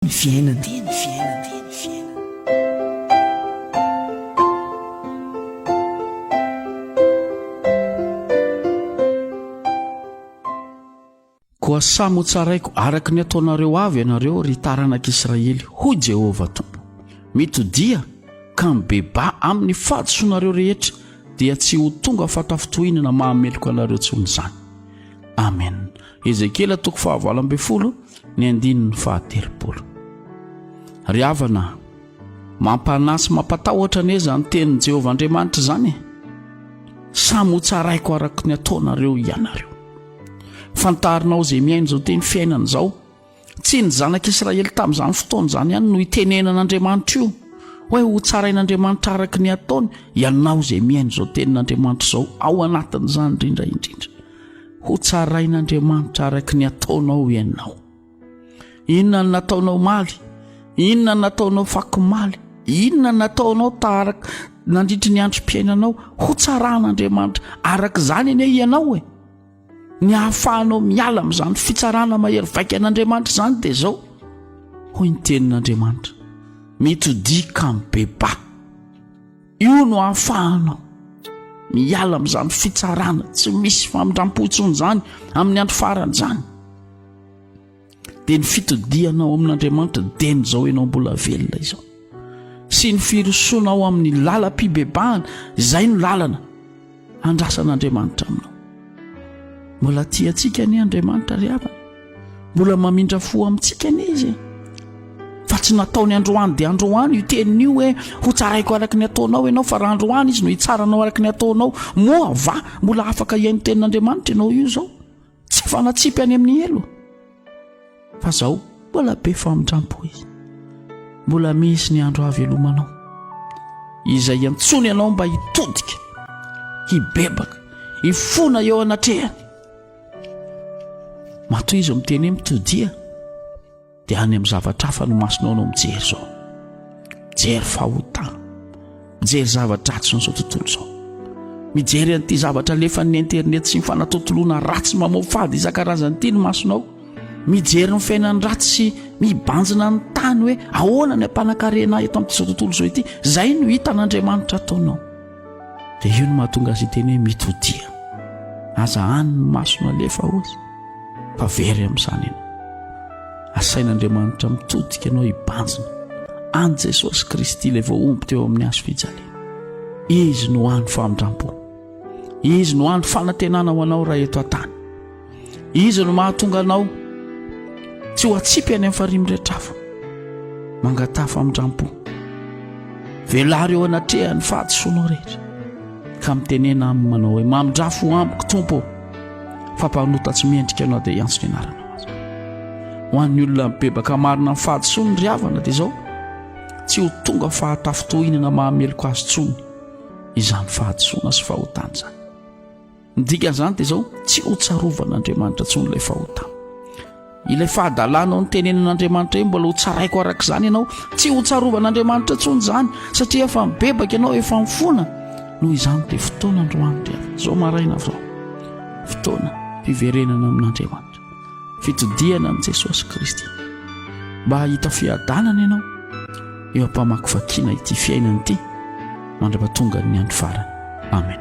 ny fiainana. Koa samy ho tsaraiko araka ny ataonareo avy ianareo, ry taranak'Israely, hoy Jehovah Tompo. Mitodia ka mibebà amin'ny fahadisoanareo rehetra, dia tsy ho tonga fahatafintohinana mahameloka anareo intsony izany. Amena. Ezekiela toko fahavalo ambin'ny folo ny andininy fahatelopolo. Ry havana, mampanahy sy mampatahotra anie izany tenin'i Jehovah Andriamanitra izany e! Samy ho tsaraiko araka ny ataonareo ianareo. Fantarinao izay miaina izao teny fiainana izao. Tsy ny zanak'Israely tamin'izany fotoana izany ihany no itenenan'Andriamanitra io hoe hotsarain'Andriamanitra araka ny ataony ianao izay mihaino izao tenin'Andriamanitra izao ao anatin'izany indrindra indrindra hotsarain'Andriamanitra araka ny ataonao ianao inona ny nataonao maly inona nataonao fakomaly inona nataonao taharaka nandritry ny androm-piainanao hotsaran'Andriamanitra araka izany anie ianao e Ny ahafahanao miala amin'izany fitsarana mahery vaika an'Andriamanitra izany dia izao, hoy ny tenin'Andriamanitra, mety ho dia kamo beba. Io no ahafahanao miala amin'izany fitsarana tsy misy famindram-po intsony izany amin'ny andro farany izany. dia ny fitodihanao amin'andriamanitra deny izao ianao mbola velona izao sy ny firosoanao amin'ny lalam-pibebahana izay no lalana handrasan'andriamanitra aminao mbola ti antsika ny andriamanitra ry havana mbola mamindra fo amintsika ny izy e. fa tsy nataony androany dia androany io teniny io hoe ho tsaraiko araka ny ataonao ianao fa raha androany izy no hitsaranao araka ny ataonao moa va mbola afaka hihaino tenin'andriamanitra ianao io zao Tsy fanatsipy any amin'ny helo fa zaho mbola be famindrampo hoe mbola misy ny andro havelomanao izay iantsoany ianao mba hitodika hibebaka hifona eo anatrehany matoa izy miteny hoe mitodia dia any amin'ny zavatra hafa ny masonao no mijery izao mijery fahotana mijery zavatra ratsy n'izao tontolo izao mijery an'ity zavatra alefan'ny internet sy ny fanatontoloana ratsy mamoafady isan-karazany ity ny masonao mijery ny fiainany ratsy sy mibanjina ny tany hoe ahoana ny ampanankarena eto amin'ity izao tontolo izao ity izay no hitan'andriamanitra ataonao Dia io no mahatonga azy hiteny hoe mitodia. Aza hany ny masona alefa hozy, fa very amin'izany ianao. Asain'Andriamanitra mitodika anao hibanjina any Jesosy Kristy ilay voahombo teo amin'ny hazo fijaliana. Izy no hany famindrampo. Izy no hany fanantenana ho anao raha eto an-tany. Izy no mahatonga anao tsy ho atsipy any amin'ny farimbretrafo. Mangataha famindrampo. Velaro eo anatrehan'ny fahadisoanao rehetra. Ka mitenena aminy manao hoe mamindrafo amiko Tompo fa mpanota tsy mendrika anao dia hiantso ny anaranao aza. Ho an'ny olona mibebaka marina amin'ny fahadisoany ry havana dia izao tsy ho tonga fahatafintohinana mahameloka azy tsony izany fahadisoana sy fahotana izany. Ny dikan'izany dia izao, tsy ho tsarovan'Andriamanitra intsony ilay fahotana. Ilay fahadalanao ny tenenin'Andriamanitra io mbola ho tsaraiko araka izany ianao, tsy ho tsarovan'Andriamanitra intsony izany satria efa mibebaka ianao, efa mifona. Noho izany dia fotoana androany dia izao maraina avy izao. Fotoana fiverenana amin'Andriamanitra. Fitodihana amin'i Jesosy Kristy. Mba hahita fiadanana ianao eo am-pamakivakiana ity fiainana ity mandra-pahatongan'ny andro farany. Amen.